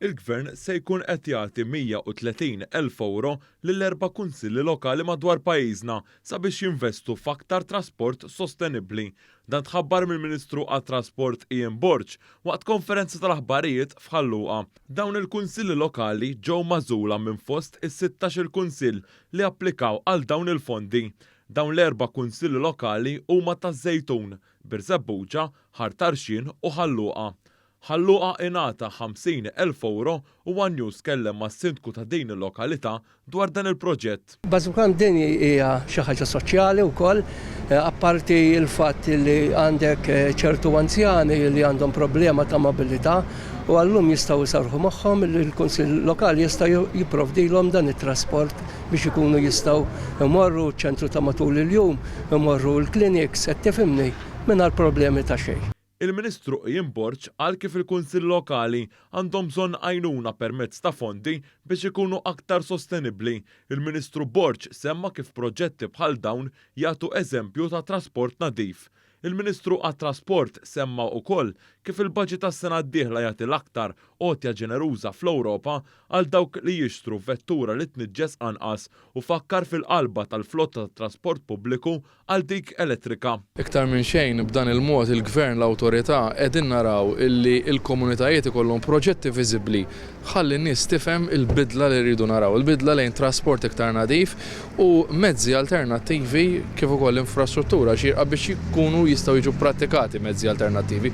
il-Gvern se jkun qed jagħti 130 elf ewro lil erba' kunsilli lokali madwar pajjiżna sabiex jinvestu f'aktar trasport sostenibbli. Dan tħabbar mill-Ministru għat-Trasport Ian Borg waqt konferenza tal-aħbarijiet f'Ħal Luqa. Dawn il-kunsilli lokali ġew magħżula minn fost is-sittax-il kunsill li applikaw għal dawn il-fondi. Dawn l-erba' kunsilli lokali huma taż-Żejtun, Birżebbuġa, Ħar Tarxien u Ħal Luqa. Ħal Luqa ingħata 50 elf ewro u one News tkellem mas-Sindku ta' din il-lokalità dwar dan il-proġett. Bażikant din hija xi ħaġa soċjali wkoll, apparti l-fatt li għandek ċertu anzjani li għandhom problema ta' mobilità u għal-lum jistgħu jserrħu moħħhom li l-Kunsill Lokali jista' jipprovdilhom dan it-trasport biex ikunu jistgħu jmorru ċ-ċentru ta' matul il-jum, imorru l-kliniks, qed tifhimni, mingħajr problemi ta' xejn. Il-Ministru Ian Borg qal kif il-Kunsilli Lokali għandhom bżonn għajnuna permezz ta' fondi biex ikunu aktar sostenibbli. Il-Ministru Borg semma kif proġetti bħal dawn jagħtu eżempju ta' trasport nadif. Il-Ministru għat-Trasport semma ukoll kif il-budget għas-sena d-dieħla jagħti l-aktar għotja ġeneruża fl-Ewropa għal dawk li jixtru vettura li tniġġes anqas u fakkar fil-qalba tal-flotta tat-trasport pubbliku għal dik elettrika. Iktar minn xejn b'dan il-mod il-Gvern, l-Awtorità qegħdin naraw illi l-komunitajiet ikollhom proġetti viżibbli Ħalli n-nies tifhem il-bidla li rridu naraw, il-bidla lejn trasport iktar nadif u mezzi alternattivi kif ukoll infrastruttura xierqa biex jkunu jistgħu jiġu pprattikati mezzi alternattivi.